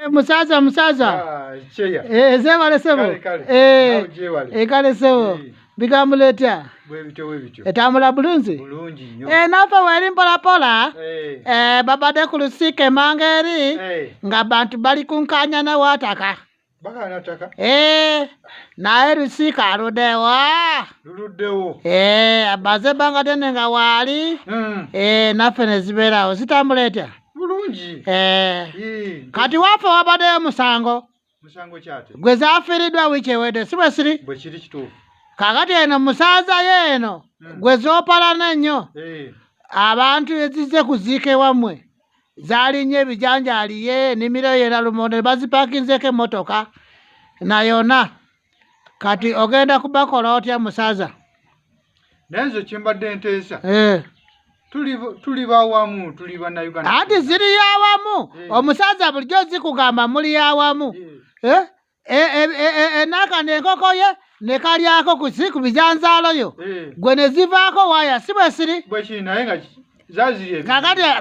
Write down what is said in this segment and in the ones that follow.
Eh, musaza musaza ah, eh, zebale sebo ekale eh, sebo bigambo letya etambula bulungi nafe weri mpolapola babadde ku lusiika emanga eri nga bantu bali kunkanya newataka naye lusiika aludewa amaze ebbanga dene nga waali hmm. nafe nezibeerawo zitambula etya bulungi eh. kati wafe wabadeyo musango gwe zafiridwa wiiki ewedde si bwe siri kakati eno musaaza ye eno hmm. gwe zopalana ennyo eh. abantu ezize kuziika ewammwe zalinye ebijanjaaliye enimiro yera lumonde bazipakinzeko emotoka nayona kati ogenda kubakola otya musaza naye nze kyembadde nteesa eh. tuli bawamu tuli banauganda anti ziri yawamu eh. omusaza bulijjo zikugamba muli yawamu eh. enaka nenkoko ye nekalyako kusi ku bijanzaalo yo gwe nezivaako waya si bwesiri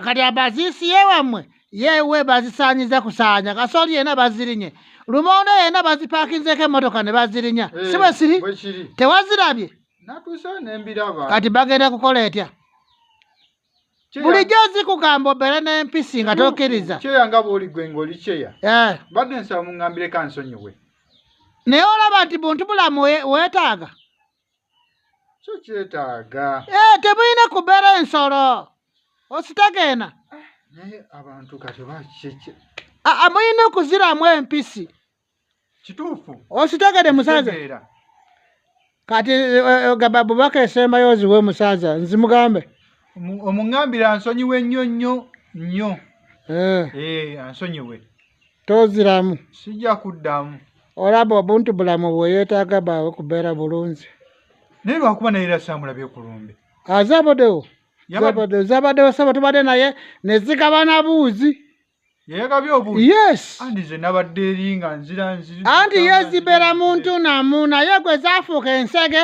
kakati abaziisi yewamwe yewe bazisanyiza kusanya kasoli yena bazirinye lumonde yena bazipakinzeko emotoka ne bazirinya hey, eh, si bwesiri tewazirabye kati bagenda kukola etya bulijjo zikugamba obeere n'empisi nga tokkiriza kyeya nga bwoli gwe ng'oli kyeya eh. badde nsaba muŋambireko ansonyiwe naye olaba nti buntu bulamu weetaaga kyo kyetaaga eh, temulina kubeera ensolo ositegeena ah, naye abantu kati bakiki amulina okuziramu empisi kituufu ositegede musaza kati eh, eh, ogamba bubaka esembayo oziwe musaza nzimugambe omuŋambira ansonyiwe nnyo nnyo nnyo ansonyiwe toziramu sijja kuddamu olaba obuntu bulamu bweyetaaga baawe kubeera bulungi naye lwakuba naye era samulabye kulumbe azabadewo zabadewo zabadewo saba tubadde naye nezigabana buuzi anti yezibeera muntu namu naye gwe zafuuka ensege